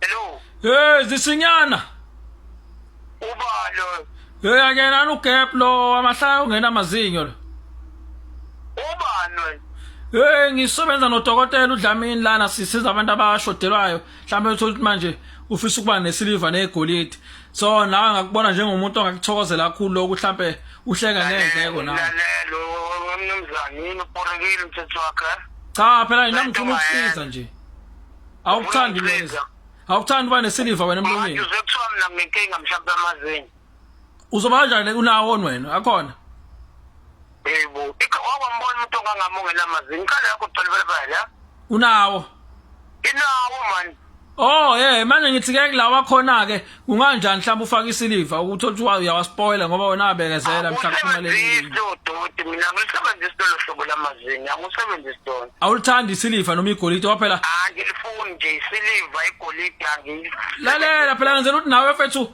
Hello, Hey zisinyana. ubalo. Hey akena no gap lo amahlaya ungena amazinyo lo. Ubano. Hey ngisebenza nodokotela uDlamini lana sisiza abantu abashodelwayo. mhlawumbe uthole ukuthi manje ufisa ukuba nesiliva negolide so nawe ngakubona njengomuntu ongakuthokozela kakhulu lokhu mhlawumbe uhleka ngendleko nawe lalela umnumzane yini uporekile umthetho wakhe cha phela yena ngifuna ukusiza nje awukuthandi neza awukuthandi uba nesiliva wena emlonyeni manje uzokuthiwa mina nginenkinga mhlawumbe amazinyo uzobanjani unawo onwena akhona yebo ikhawambona umuntu ongangami ongenamazinyo inkalo yakho tholibele bala unawo inawo mani Oh yeah manje ngithi ke kulawa khona ke kunganjani mhlawumbe ufaka isiliva ukuthi uthi uyawaspoiler ngoba wena abekezela mhlawumbe leli doti mina ngisebenzisa lolu hlobo lamazinyo angisebenzisi lona Awulithandi isiliva noma igolide waphela Angilifuni nje isiliva igolide angilifuni Lalela phela ngenzela ukuthi nawe fethu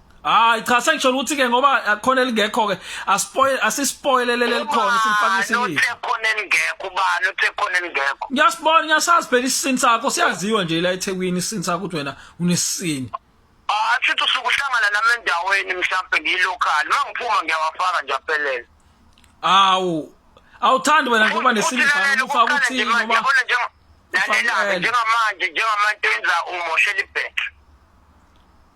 Hayi cha sengisholo ukuthi ke ngoba akhona elingekho ke aspoil asispoilele lelikhona simfakise yini. Uthe khona elingekho ubani uthe khona elingekho. Ngiyasibona ngiyasazi phela isini sakho siyaziwa nje la eThekwini isini sakho ukuthi wena unesini. Ah futhi usuke uhlangana nami endaweni mhlawumbe ngiyilocal mangiphuma ngiyawafaka nje aphelele. Awu awuthandi wena ngoba nesini khona ufaka ukuthi ngoba yabona nje lalela njengamanje njengamanje enza umoshela ibheke.